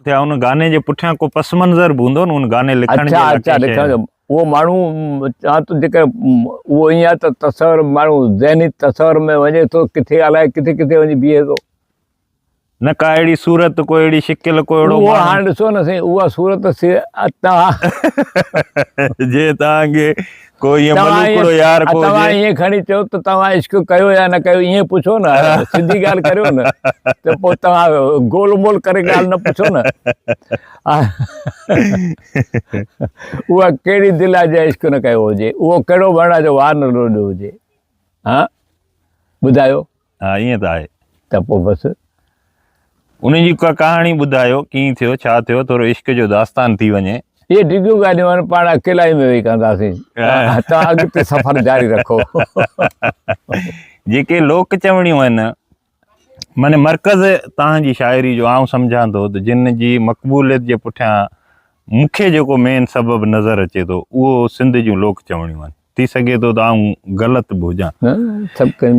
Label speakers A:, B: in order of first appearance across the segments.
A: اچا ان گاني جي پٺيان ڪو پس منظر به هوندو نه ان گاني لکڻ جي اچا اچا لکڻ جو اهو
B: ماڻهو چوان ٿو جيڪر اهو ائين آهي ته تصور ماڻهو ذهني تصور ۾ وڃي ٿو ڪٿي الائي ڪٿي ڪٿي وڃي بيهي ٿو نه
A: ڪا اهڙي صورت ڪو اهڙي شڪل ڪو اهڙو اهو هاڻ ڏسو نه سائين اها
B: صورت سي اتا
A: جي تان کي توهان ائين کڻي چئو
B: ته
A: توهان
B: عشق ڪيو يا نه ڪيو ائين پڇو نه سڌي ڳالهه ڪريو نه ته پوء توهان گول مول ڪري ڳالهه نه پڇو نه اها ڪهڙي دل آهي جنهن عشق نه ڪيو هجي اهو ڪهڙو وڻ آهي جو وار نه لوڏيو هجي ها ٻڌايو ها ائين ته
A: آهي. ته پوء بس. انهن جي ڪا ڪهاڻي ٻڌايو، ڪيئن ٿيو، ڇا ٿيو، ٿورو عشق جو داستان ٿي وڃي. اهي ڊگهيون ڳالهيون
B: هاڻي پاڻ اڪيلائي ۾ ويهي ڪنداسين. توهان اڳتي سفر جاري رکو.
A: جيڪي لوڪ چوڻيون آهن، معني مرڪز توهان جي شاعري جو آئون سمجهان ٿو ته جن جي مقبوليت جي پٺيان مون کي جيڪو مين سبب نظر اچي ٿو، اهو سنڌ جون لوڪ چوڻيون آهن. ٿي سگهي ٿو ته آئون غلط به هجان. سڀ ڪن.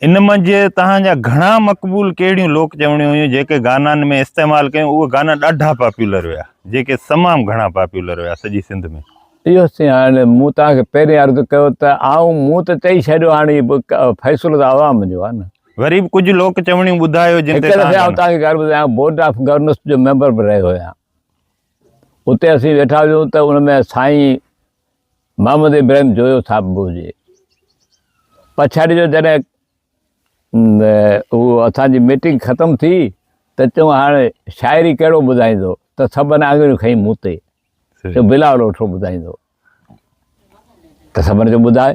B: ان منجهه
A: توهان جا گهڻا مقبول ڪهڙيون لوڪ چوڻيون هيون جيڪي گانان ۾ استعمال ڪيون اهي گانا ڏاڍا پاپيولر ويا جيڪي تمام گهڻا پاپيولر ويا سڄي سنڌ ۾. اهو سين هاڻ
B: مون توهان کي پهرين عرض ڪيو ته آئون مون ته چئي ڇڏيو هاڻ هي فيصلو ته عوام جو آهي نه. وري به ڪجهه لوڪ
A: چوڻيون ٻڌايو جن تي توهان. هڪ دفعي آئون توهان کي ڳالهه ٻڌايان
B: بورڊ آف گورنرس جو ميمبر به رهيو هيان اتي اسين ويٺا هيون ته ان ۾ سائين محمد ابراهيم جويو ٿاپبو جي پڇاڙي جو جڏهن اهو اسان جي ميٽنگ ختم ٿي ته چون هاڻ شاعري ڪهڙو ٻڌائيندو ته سڀن آڱريون کئي مون تي جو بلاول اوٺو ٻڌائيندو ته سڀن جو ٻڌائي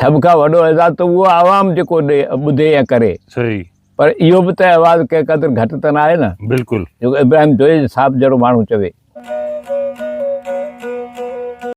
B: سڀ کان وڏو اعزاز ته اهو عوام جيڪو ٻڌي يا ڪري صحيح پر
A: اهو به
B: ته آواز ڪنهن قدر گهٽ ته نه آهي نه بلڪل جيڪو ابراهيم جويي صاحب جهڙو ماڻهو چوي